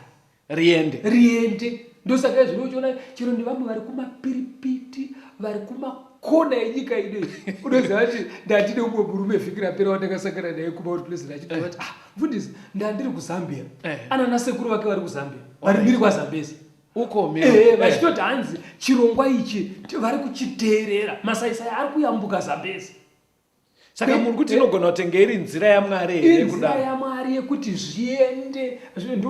Riende. riende ndosaka izvino uchiona chero nevamwe vari kumapiripiti vari kumakona enyika ino iyi unoziva kuti ndandine umwe murume vhiki rapera wandakasangana naye kumaut pleasant achibva vati ah mfundisi ndandiri kuzambia Eh. anana sekuru vake vari kuzambia vari mhiri kwazambezi Uko mhiri. Eh, Eh. vachitoti hanzi chirongwa ichi ti- vari kuchiteerera masaisai ari kuyambuka zambezi saka muri kuti inogona kutenga iri nzira yamwari here nzira yamwari yekuti zviende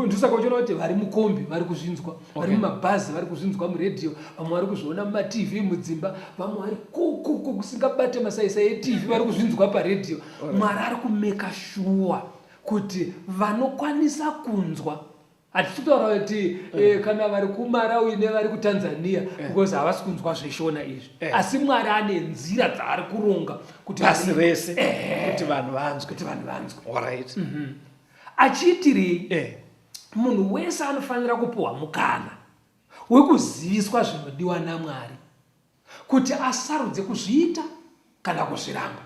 ndosaka uchiona kuti vari mukombi vari kuzvinzwa vari mumabhazi vari kuzvinzwa muredhiyo vamwe vari kuzviona mumatv mudzimba vamwe vari kukuku kusingabate masaisa etv vari kuzvinzwa paredhiyo mwari ari kumeka shuwa kuti vanokwanisa kunzwa hatichitaurawo kuti eh. eh, kana vari kumarawi nevari kutanzania eh. because havasi kunzwa zveshona izvi eh. asi mwari ane nzira dzaari kuronga kuti pasi rese eh. kuti vanhu vanzwe kuti vanhu vanzwe orit mm -hmm. achiitirei eh. munhu wese anofanira kupiwa mukana wekuziviswa zvinodiwa namwari kuti asarudze kuzviita kana kuzviramba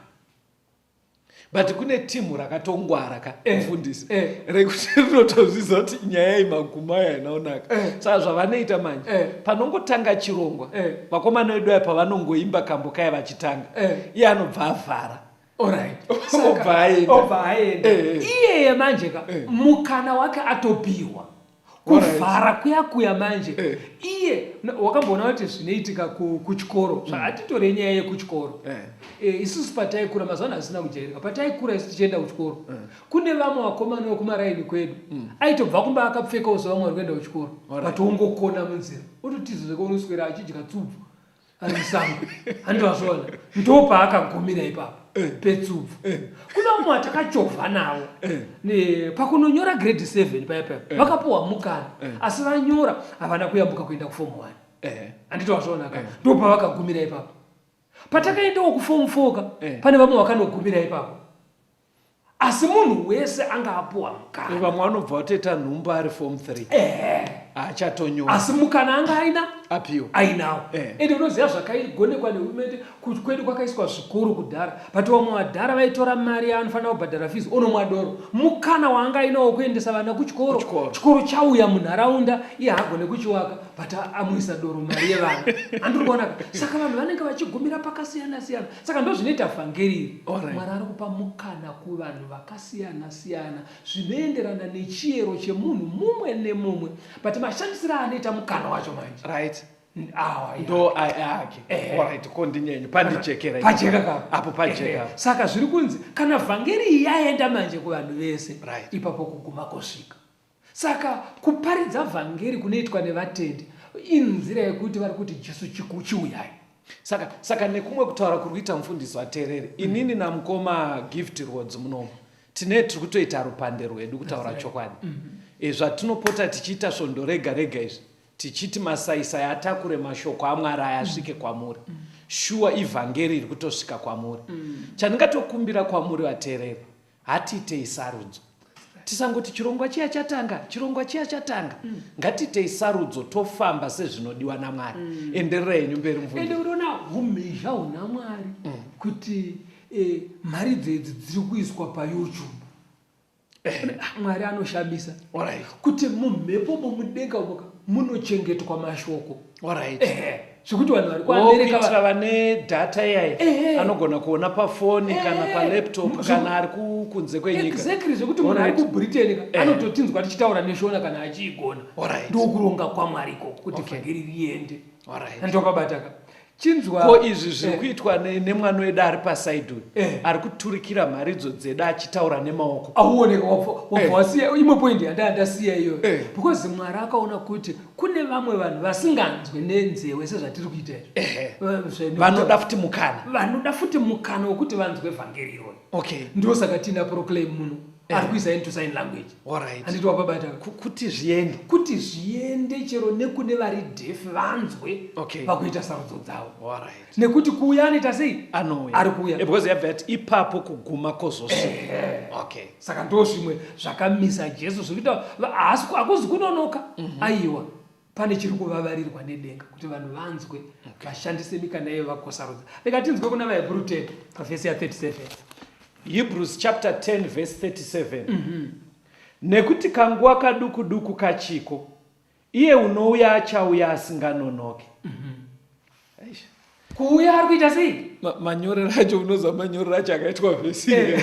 but kune timu rakatongwara ka eh. mfundisi eh. rekuti rinotozviza kuti nyaya iyi maguma ayo ainaonaka eh. saka zvavanoita manje panongotanga chirongwa vakomana vedu aya pavanongoimba kambo kaya vachitanga iye anobva avhara obva aenda iyeye manje ka mukana wake atopihwa kuvhara kuya kuya manje eh. iye wakamboona kuti zvinoitika kuchikoro hmm. zvaatitore nyaya yekuchikoro eh. eh, isusu pataikura mazuvano hazina kujairika pataikura isu tichienda kuchikoro eh. kune vamwe vakomana vekumaraini kwedu hmm. aitobva kumba akapfekawo zvavamwe vari kuenda kuchikoro but ongokona munzira ototiza zvekaunoswera achidya tsubvu ari musango handi wazviona ndopaakagumira ipapo eh. petsupfu eh. kuna umwe atakachovha navo eh. pakunonyora grade seven paya paya vakapuwa mukana asi vanyora havana kuyambuka kuenda kufomu one handiti wazviona ka ndopavakagumira ipapo patakaendawo kufomu four ka pane vamwe vakanogumira ipapo asi munhu wese anga apuwa mukana vamwe vanobva vatoita nhumba ari form 3 ehe haachatonyora asi mukana anga aina apiwa ainawo Eh. ende unoziva zvakaigonekwa nehurumende kuti kwedu kwakaiswa zvikuru kudhara but vamwe vadhara vaitora mari yaanofanira kubhadhara fees onomwa doro mukana waanga ainawo kuendesa vana kuchikoro Kuchikoro. chikoro chauya munharaunda iye haagone kuchiwaka but a- amuisa doro mari yevana andiri kuona ka? saka vanhu vanenge vachigumira pakasiyana siyana saka ndozvinoita vhangeri iri mwari ari kupa mukana kuvanhu vakasiyana siyana zvinoenderana nechiyero chemunhu mumwe nemumwe but mashandisiro aanoita mukana wacho manje right ndo ake orit ko ndinyenye pandijekera apo pajeka saka zviri kunzi kana vhangeri iyi yaenda manje kuvanhu vese ipapo kuguma kosvika Saka kuparidza vhangeri kunoitwa nevatendi inzira yekuti vari kuti Jesu chiuyai. Saka saka nekumwe kutaura kuri kuita mufundisi waterere mm. inini namukoma gift roads munomu tine tiri kutoita rupande rwedu kutaura chokwadi mm -hmm. e, zvatinopota tichiita svondo rega rega izvi tichiti masaisai atakure mashoko amwari aya asvike mm. kwamuri mm. shuwa ivhangeri iri kutosvika kwamuri mm. chandingatokumbira kwamuri vaterere hatiitei sarudzo tisangoti chirongwa chiya chatanga chirongwa chiya chatanga mm. ngatiitei sarudzo tofamba sezvinodiwa namwari mm. enderera yenyu mberi mvunende unoona humhizha huna mwari mm. kuti eh, mari dzedzi dziri kuiswa payoutube eh. ah, mwari anoshamisa right. kuti mumhepo momudenga umoka munochengetwa mashoko Alright. Eh, zvekuti vanhu vari kuamereka kuitira vane data iyayi eh, anogona kuona pafoni eh, kana palaptop kana ari kunze kwenyika exactly zvekuti munhu ari kubritain anototinzwa tichitaura neshona kana achiigona ndokuronga kwamwari ikoko kuti vhangeri riende ndopabataka chinzwa ko izvi zviri kuitwa nemwana wedu ari pasaidi uyu ari kuturikira mharidzo dzedu achitaura nemaoko auoneka wabva wasiya imwe point yandandasiya iyoyo because mwari akaona kuti kune vamwe vanhu vasinganzwe nenzewe sezvatiri kuita izvi eh, vanoda futi mukana vanoda futi mukana wekuti vanzwe vhangeri iroi okay ndiwo saka tiina proclaim muno eh. ari kuisa into sign language alright anditi wapabata kuti zviende kuti zviende chero nekune vari deaf vanzwe okay vakuita sarudzo dzavo alright nekuti kuuya anoita sei anouya ari kuuya eh, because yabva yati ipapo kuguma kozosi eh. okay saka ndo zvimwe zvakamisa jesu zvekuita hakuzi kunonoka mhm. aiwa pane chiri kuvavarirwa nedenga kuti vanhu vanzwe vashandise mikana iye vakosarudza rega tinzwe kuna vahebrew 10 pavhesi ya 37 hebrews chapter 10 vhesi 37 mhm. nekuti kanguva kaduku duku kachiko Iye unouya achauya asinganonoke. Eish. kuuya ari kuita sei Ma- manyorero acho unoziva manyorero acho akaitwa vhesi Eh.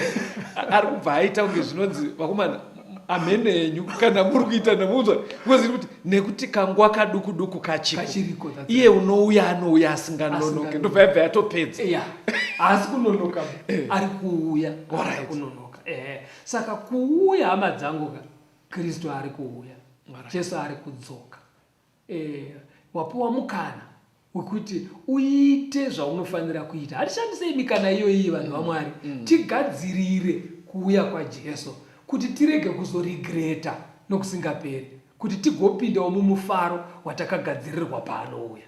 ari kubva aita kunge zvinonzi vakomana amhene henyu kana muri kuita namuudzwa because iri kuti nekuti kanguva kaduku duku kachiko Kachiriko, that's iye unouya anouya asinganonoke Asinganonoke. ndobva yabva yatopedza ya haasi kunonoka ari kuuya Alright. ari kunonoka ehe saka kuuya hama dzangu ka kristu ari kuuya jesu ari kudzoka e, wapiwa mukana wekuti uite zvaunofanira kuita hatishandisei mikana iyoiyi vanhu mm, vamwari mm. tigadzirire kuuya kwajesu kuti tirege kuzorigreta nokusingaperi kuti tigopindawo mumufaro watakagadzirirwa paanouya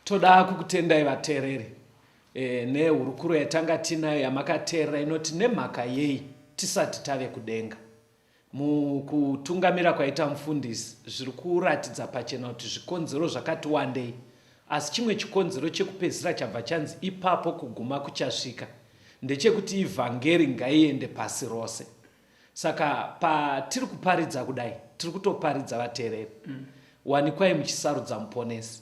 toda kukutendai vateereri E, nehurukuro yatanga tinayo yamakateerera inoti nemhaka yei tisati tave kudenga mukutungamira kwaita mufundisi zviri kuratidza pachena kuti zvikonzero zvakati wandei asi chimwe chikonzero chekupedzisira chabva chanzi ipapo kuguma kuchasvika ndechekuti ivhangeri ngaiende pasi rose saka patiri kuparidza kudai tiri kutoparidza vateereri mm. wanikwai muchisarudza muponesi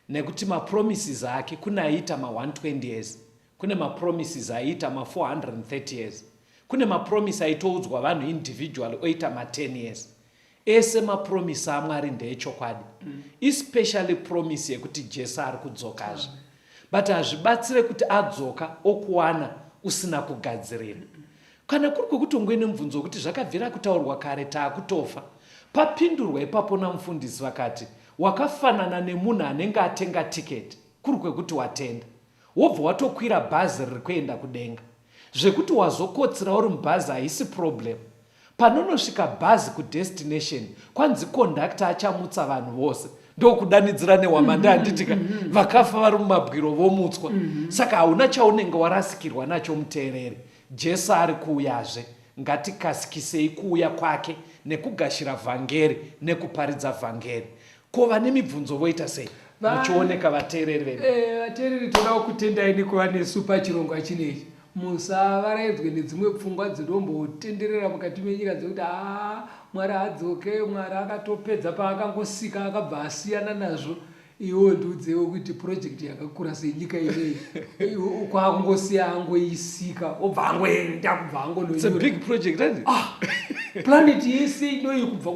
Nekuti ma promises ake kune aiita ma 120 years, kune ma promises aiita ma 430 years, kune ma promise aitoudzwa vanhu individually oita ma 10 years. Ese ma promise aMwari ndeechokwadi, mm. especially promise yekuti Jesu ari kudzokazve. Mm. But hazvibatsire kuti adzoka okuwana usina kugadzirira. Mm. Kana kuri kwekuti ungue nemubvunzo wekuti zvakabvira kutaurwa kare taakutofa, papindurwa ipapo namufundisi vakati, Wakafanana nemunhu anenge atenga ticket kuri kwekuti watenda wobva watokwira bhazi riri kuenda kudenga. Zvekuti wazokotsira uri mubhazi haisi problem. Panonosvika bhazi kudestination kwanzi conductor achamutsa vanhu vose ndokudanidzira nehwamande mhm, handitika mhm, mhm. vakafa vari mumabwiro vomutswa. Saka hauna chaunenge warasikirwa nacho muteereri. Jesu ari kuuyazve. Ngatikasikisei kuuya kwake nekugashira vhangeri nekuparidza vhangeri. Ko vane mibvunzo voita sei? Muchioneka vateereri vedu. Eh, vateereri todawo kutendai nekuva nesu pachirongwa chinechi. Musavaraidzwe nedzimwe pfungwa dzinombotenderera mukati menyika dzekuti haa Mwari hadzoke, Mwari akatopedza paakangosika akabva asiyana nazvo. iwo ndiudzewo kuti purojekiti yakakura senyika inei kwakungosiya angoisika obva angoenda kubva angonoplaneti ah, yese inoyi kubva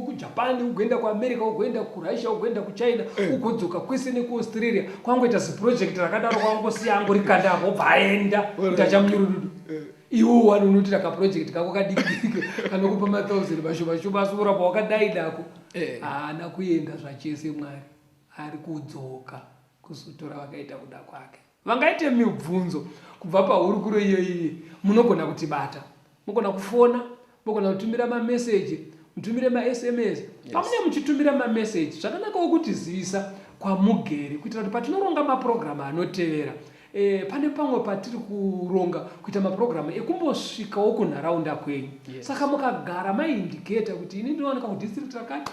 kujapan ugoenda kuamerica ugoenda kurussia ugoenda kuchina eh. ugodzoka kwese nekuaustralia kwangoita zipurojekiti rakadaro kwakungosiya angorikanda apo obva aenda kuti achamunyurududu eh. iwo wani unoitira kaproject kako kadikidiki kanokupa mathousand mashoma shoma asi kuramba wakadai nako eh. haana kuenda zvachese mwari ari kudzoka kuzotora vakaita kuda kwake vangaite mibvunzo kubva pahurukuro iyoiyi munogona kutibata mogona kufona mogona kutumira mameseji mutumire masms pamune muchitumira mameseji zvakanakawo kuti zivisa kwamugere kuitira kuti patinoronga mapurogiramu anotevera e, pane pamwe patiri kuronga kuita mapurogiramu ekumbosvikawo kunharaunda kwenyu yes. saka mukagara maindiketa kuti ini ndinowanika kudistrict rakati